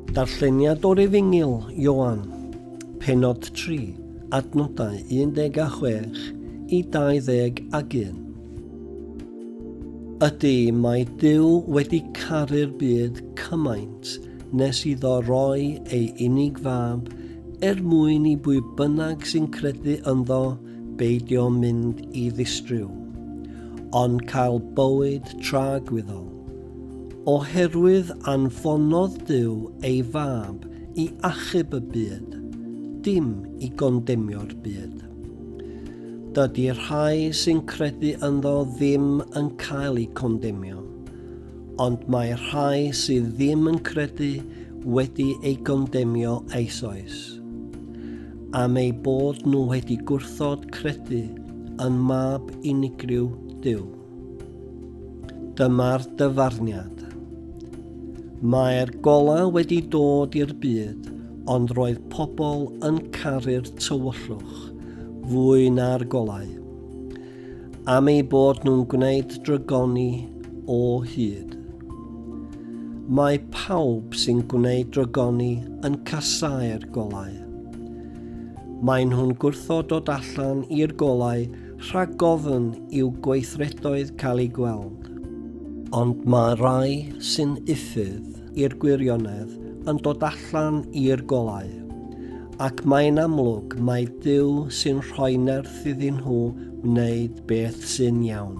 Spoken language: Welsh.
Darlleniad o'r Efengyl, Ioan, pennod 3, adnodau 16 i 21. Ydy, mae Duw wedi caru'r byd cymaint nes iddo roi ei unig fab er mwyn i bwy bynnag sy'n credu ynddo beidio mynd i ddistryw, ond cael bywyd tra gwyddol. Oherwydd anfonodd Duw ei Fab i achub y byd, dim i gondemio'r byd. Dydy rhai sy'n credu ynddo ddim yn cael eu condemio, ond mae rhai sydd ddim yn credu wedi ei gondemio eisoes, am eu bod nhw wedi gwrthod credu yn Mab unigryw Duw. Dyma'r dyfarniad. Mae'r golau wedi dod i'r byd, ond roedd pobl yn caru'r tywyllwch fwy na'r golau. Am ei bod nhw'n gwneud drygoni o hyd. Mae pawb sy'n gwneud drygoni yn casau'r golau. Maen nhw'n gwrthod dod allan i'r golau Rhag ofn i'w gweithredoedd cael eu gweld. Ond mae rhai sy'n uffydd i'r gwirionedd yn dod allan i'r golau. Ac mae'n amlwg mai Duw sy'n rhoi nerth iddyn nhw wneud beth sy'n iawn.